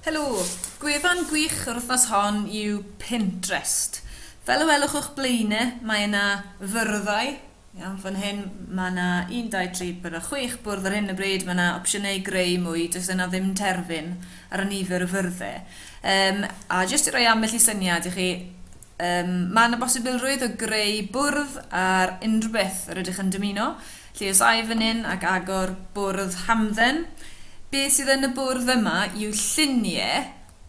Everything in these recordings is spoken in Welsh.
Helo! Gwefan gwych yr wythnos hon yw Pinterest. Fel y welwch o'ch blaen i, mae yna fyrddau, iawn, fan hyn, mae yna 1, 2, 3, 4, 6 bwrdd ar hyn o bryd, mae yna opsiynau i greu mwy, does yna ddim terfyn ar y nifer o fyrddau. Um, a jyst i roi ambell i syniad i chi, Yym, mae yna bosibilrwydd o greu bwrdd ar unrhyw beth yr ydych yn dymuno, felly os ai fan hyn ac agor bwrdd hamdden, beth sydd yn y bwrdd yma yw llunie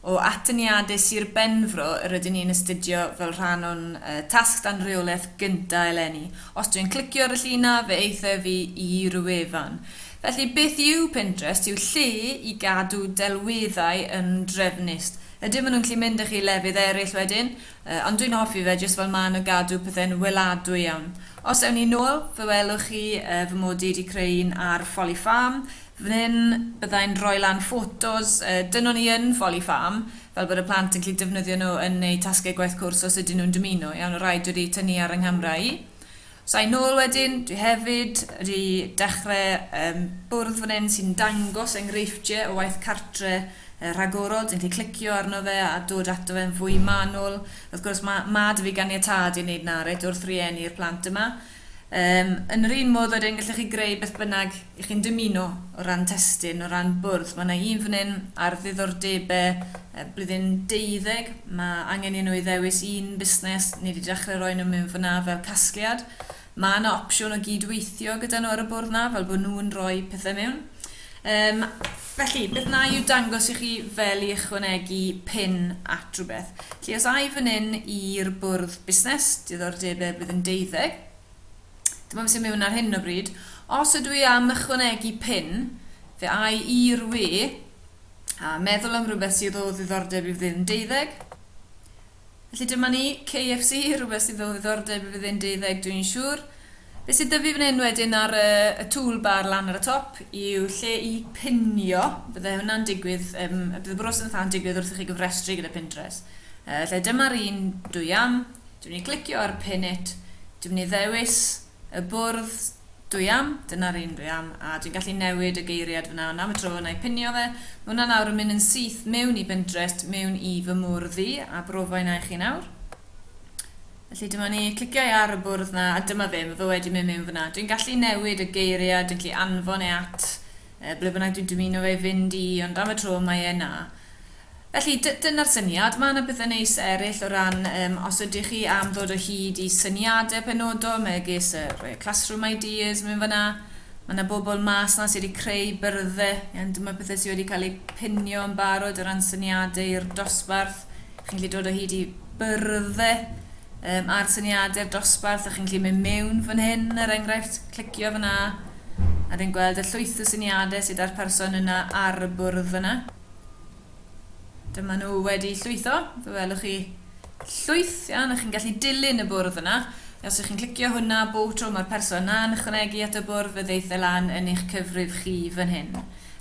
o atyniadau Sir Benfro yr ydyn ni'n astudio fel rhan o'n yy tasg dan reolaeth gynta eleni. Os dwi'n clicio ar y llun 'na, fe aeth e fi i ryw wefan. Felly, beth yw Pinterest yw lle i gadw delweddau yn drefnus. Ydyn, maen nhw'n gallu mynd â chi i lefydd eraill wedyn, yy, ond dwi'n hoffi fe jyst fel maen a gadw pethe'n weladwy iawn. Os ewn ni nôl, fe welwch chi yy fy mod i wedi creu un ar Folly Farm, fan hyn byddai'n rhoi lan ffotos yy dyn o'n i yn Folly Farm, fel bod y plant yn gallu defnyddio nhw yn eu tasgau gwaith cwrs os ydyn nhw'n dymuno, iawn, y rhai dwi wedi tynnu ar yng nghamera i. Sa i'n ôl wedyn, dwi hefyd wedi dechre yym bwrdd fan hyn sy'n dangos enghreifftiau o waith cartre yy rhagorol, ti'n gallu clicio arno fe a dod ato fe'n fwy manwl. Wrth gwrs ma' ma' 'da fi ganiatâd i wneud 'na reit wrth rieni'r plant yma. Yym yn yr un modd wedyn gallech chi greu beth bynnag i chi'n dymuno o ran testun, o ran bwrdd. Mae yna un fan hyn ar ddiddordebau blwyddyn deuddeg. Mae angen i nhw i ddewis un busnes. Ni wedi dechrau rhoi nhw mewn fan yna fel casgliad. Mae yna opsiwn o gyd-weithio gyda nhw ar y bwrdd yna, fel bod nhw'n rhoi pethau mewn. Um, felly, beth na i'w dangos i chi fel i ychwanegu pin at rhywbeth. Felly, os ai fan hyn i'r bwrdd busnes, diddordebau blwyddyn deuddeg, Dim ond sy'n mewn ar hyn o bryd. Os ydw i am ychwanegu pin, fe ai i'r we a meddwl am rhywbeth sydd o ddiddordeb i fyddin deuddeg. Felly dyma ni, KFC, rhywbeth sydd o ddiddordeb i fyddin deuddeg, dwi'n siŵr. Be sydd dyfu fan hyn wedyn ar y, y toolbar lan ar y top yw lle i pinio. Bydde hwnna'n digwydd, um, bydd y broses yn digwydd wrth i chi gyfrestru gyda Pinterest. Uh, lle dyma'r un dwi am. Dwi'n mynd i glicio ar pin it, dwi'n mynd i ddewis y bwrdd dwi am, dyna'r un dwi am, a dwi'n gallu newid y geiriad fyna, ond am y tro, na i pinio fe. Mae hwnna nawr yn mynd yn syth mewn i Bindrest, mewn i fy mwrdd i, a brofa inna i chi nawr. Felly dyma ni, cliciau ar y bwrdd na, a dyma fe, mae fe wedi mynd mewn fyna. Dwi'n gallu newid y geiriau, dwi'n gallu anfon e at Yy, ble bynnag dwi'n dymuno fe fynd i, ond am y tro mae e 'na. Felly, dy- dyna'r syniad. Mae 'na bethe neis eryll o ran, yym, os ydych chi am ddod o hyd i syniade penodol, megis y rhoi y classroom ideas mewn fan'na. Mae 'na bobl mas 'na sy wedi creu byrddau, iawn, dyma pethe sy wedi cael eu pinio yn barod o ran syniade i'r dosbarth, Chi'n gallu dod o hyd i byrdd e, um, a'r syniadau'r dosbarth, a chi'n gallu mynd mewn fan hyn, er enghraifft, clicio fyna, a rwy'n gweld y llwyth o syniadau sydd â'r person yna ar y bwrdd yna. Dyma nhw wedi llwytho, fe welwch chi llwyth iawn, a chi'n gallu dilyn y bwrdd yna. Os ydych chi'n clicio hwnna, bob tro mae'r person yna yn ychwanegu at y bwrdd, fe ddeith e lan yn eich cyfrif chi fan hyn.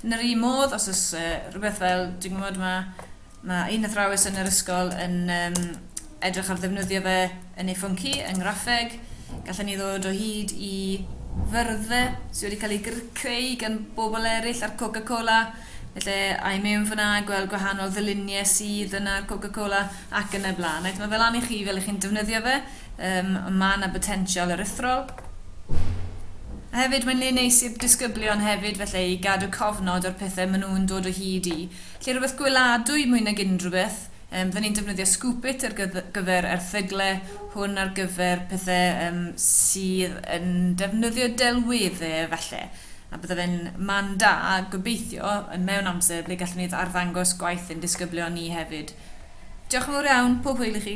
Yn yr un modd, os oes uh, rhywbeth fel, dwi'n gwybod, mae Mae un athrawes yn yr ysgol yn um, edrych ar ddefnyddio fe yn ei phwnc hi, yng ngraffeg. Gallwn ni ddod o hyd i fyrddfa sydd wedi cael ei creu gan bobl eraill ar Coca-Cola. Felly, ai mewn fyna, gweld gwahanol ddyluniau sydd yna ar Coca-Cola ac yn y blaen. Right, mae fel lan i chi fel ych chi'n defnyddio fe. Um, mae yna botensial aruthrol. A hefyd mae'n le neis i'r disgyblion hefyd felly i gadw cofnod o'r pethau maen nhw'n dod o hyd i. Lle rhywbeth gweladwy mwy nag unrhywbeth. Yym fy ni'n defnyddio Scoopit ar gyfer erthygle hwn ar gyfer pethe yym sydd yn defnyddio delwedde falle a bydde fe'n man da gobeithio yn mewn amser ble gallwn ni arddangos gwaith ein disgyblion ni hefyd. Diolch yn fawr iawn, pob hwyl i chi.